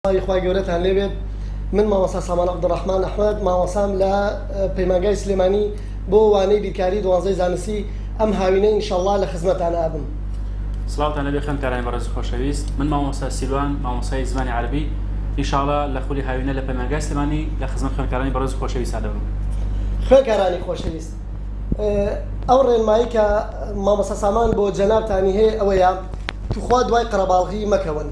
سڵاوی خوای گەورەتان لێبێت من مامۆستا سامان عبدالرحمن احمد مامۆسام لە پەیمانگای سلێمانی بۆ وانەی بیرکاری دوانزەی زانستی ئەم هاوینە انشاءاللە لە خزمەتان ئابم سڵاوتان لەبێ خوێندکارانی بەڕێز خۆشەویست من مامۆستا سیلوان مامۆسای زمانی عربی انشاءاللە لە خولی هاوینە لە پەیمانگای سلێمانی لە خزمەت خوێندکارانی بەڕێز خۆشەویستان دەبم خوێندکارانی خۆشەویست ئەو ڕێنمایی کە مامۆستا سامان بۆ جەنابتانی هەیە ئەوەیە توخوا دوای قەرەباڵغی مەکەون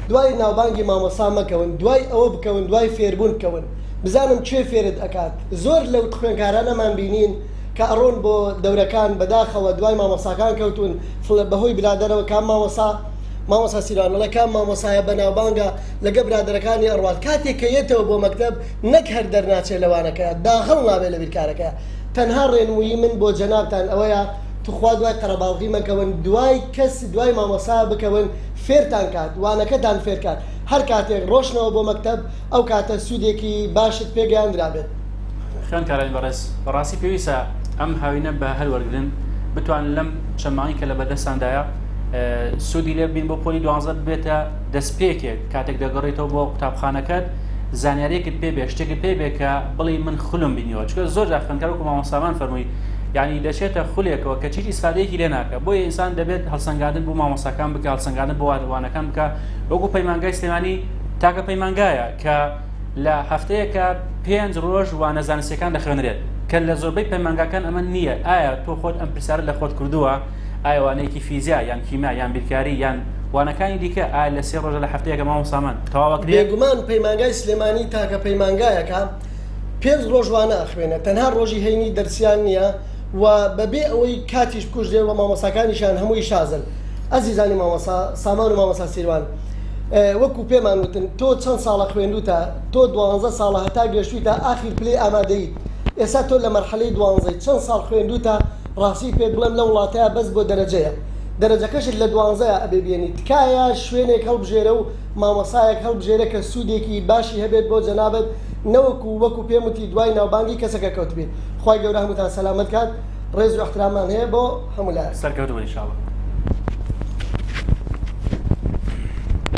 دوای ناوبانگی مامۆستا مەکەون دوای ئەوە بکەون دوای فێربون بکەون بزانم کێ فێرت ئەکات زۆر لەو خوێنکارانەمان بینین کە ئەڕۆن بۆ دەورەکان بەداخەوە دوای مامۆستاکان کەوتون فڵ بەهۆی برادەرەوە کام مامۆستا مامۆستا سیروان مەڵێ کام مامۆستایە بەناوبانگە لەگە برادەرەکانی ئەڕوات کاتێ کە یەتەوە بۆ مەکتەب نەک هەر دەرناچێ لە وانەکەیا داغڵ نابێ لە بیرکارەکەیا تەنها ڕێنموویی من بۆ جەنابتان ئەوەیە توخوا دوای قەرەباڵغی مەکەون دوای کەس دوای مامۆستا بکەون فێرتان کات وانەکە تان فێر کات هەر کاتێک ڕۆشتنەوە بۆ مەکتەب ئەو کاتە سودێکی باشت پێ گەیاندرابێت. خوێندکارانی بەڕێز بەڕاستی پێویستە ئەم هاوینە بە هەر وەرگرن بتوانن لەم چەند مانگی کە لە بەردەستاندایە سودی لێ ببین بۆ پۆلی دوانزە ببێتە دەستپێکێک کاتێک دەگەڕێتەوە بۆ قوتابخانەکەت زانیاریەکت پێ بێ شتێکت پێ بێ کە بڵێی من خولم بینیوە چکە زۆر جار خوێندکار وەکو مامۆستامان فەرمووی یعنی دەچێتە خولێکەوە کە چیزی سادەیەکی لێ ناکە بۆیە ئینسان دەبێت هەڵسەنگاندن بۆ مامۆستاکان بکە هەڵسەنگاندن بۆ وانەکان بکە وەکو پەیمانگای سلێمانی تاکە پەیمانگایە کە لە هەفتەیەکە پێنج ڕۆژ وانە زانستەکان دەخوێنرێت کە لە زۆربەی پەیمانگاکان ئەمە نییە ئایا تۆ خۆت ئەم پرسیارە لە خۆت کردووە ئایوانەیەکی فیزیا یان کیمیا یان بیرکاری یان وانەکانی دیکە ئایا لە سێ ڕۆژە لە هەفتەیەکە مامۆستامان تەواوەکرێ بێگومان پەیمانگای سلێمانی تاکە پەیمانگایەکە پێنج ڕۆژ وانە ئەخوێنێ تەنها ڕۆژی هەینی دەرسیان نیە و بەبێ ئەوەی کاتیش بکوژرێ و مامۆساکانیشان هەمووی شازن ئەزیزانی مامۆسا سامان و مامۆسا سیروان وەکو پێمان وتن تۆ چەند ساڵە خوێندوتە تۆ دوانزە ساڵە هەتا گەشتویتە ئاخیر پلەی ئامادەیت ئێستا تۆ لە مەرحەلەی دوانزەی چەند ساڵ خوێندوتە ڕاستی پێت بڵێم لە وڵاتەیا بەس بۆ دەرەجەیە دەرەجەکەشت لە دوانزەیا ئەبێ بێنی تکایە شوێنێک هەڵبژێرە و مامۆستایەک هەڵبژێرە کە سودێکی باشی هەبێت بۆ جەنابت نەوەکو وەکو پێم وتی دوای ناوبانگی کەسەکە کەوتبیت خوای گەورە هەمووتان سەلامەت کات ڕێز و احتراممان هەیە بۆ هەموو لایەک. سەرکەوتوبن انشاءاللە.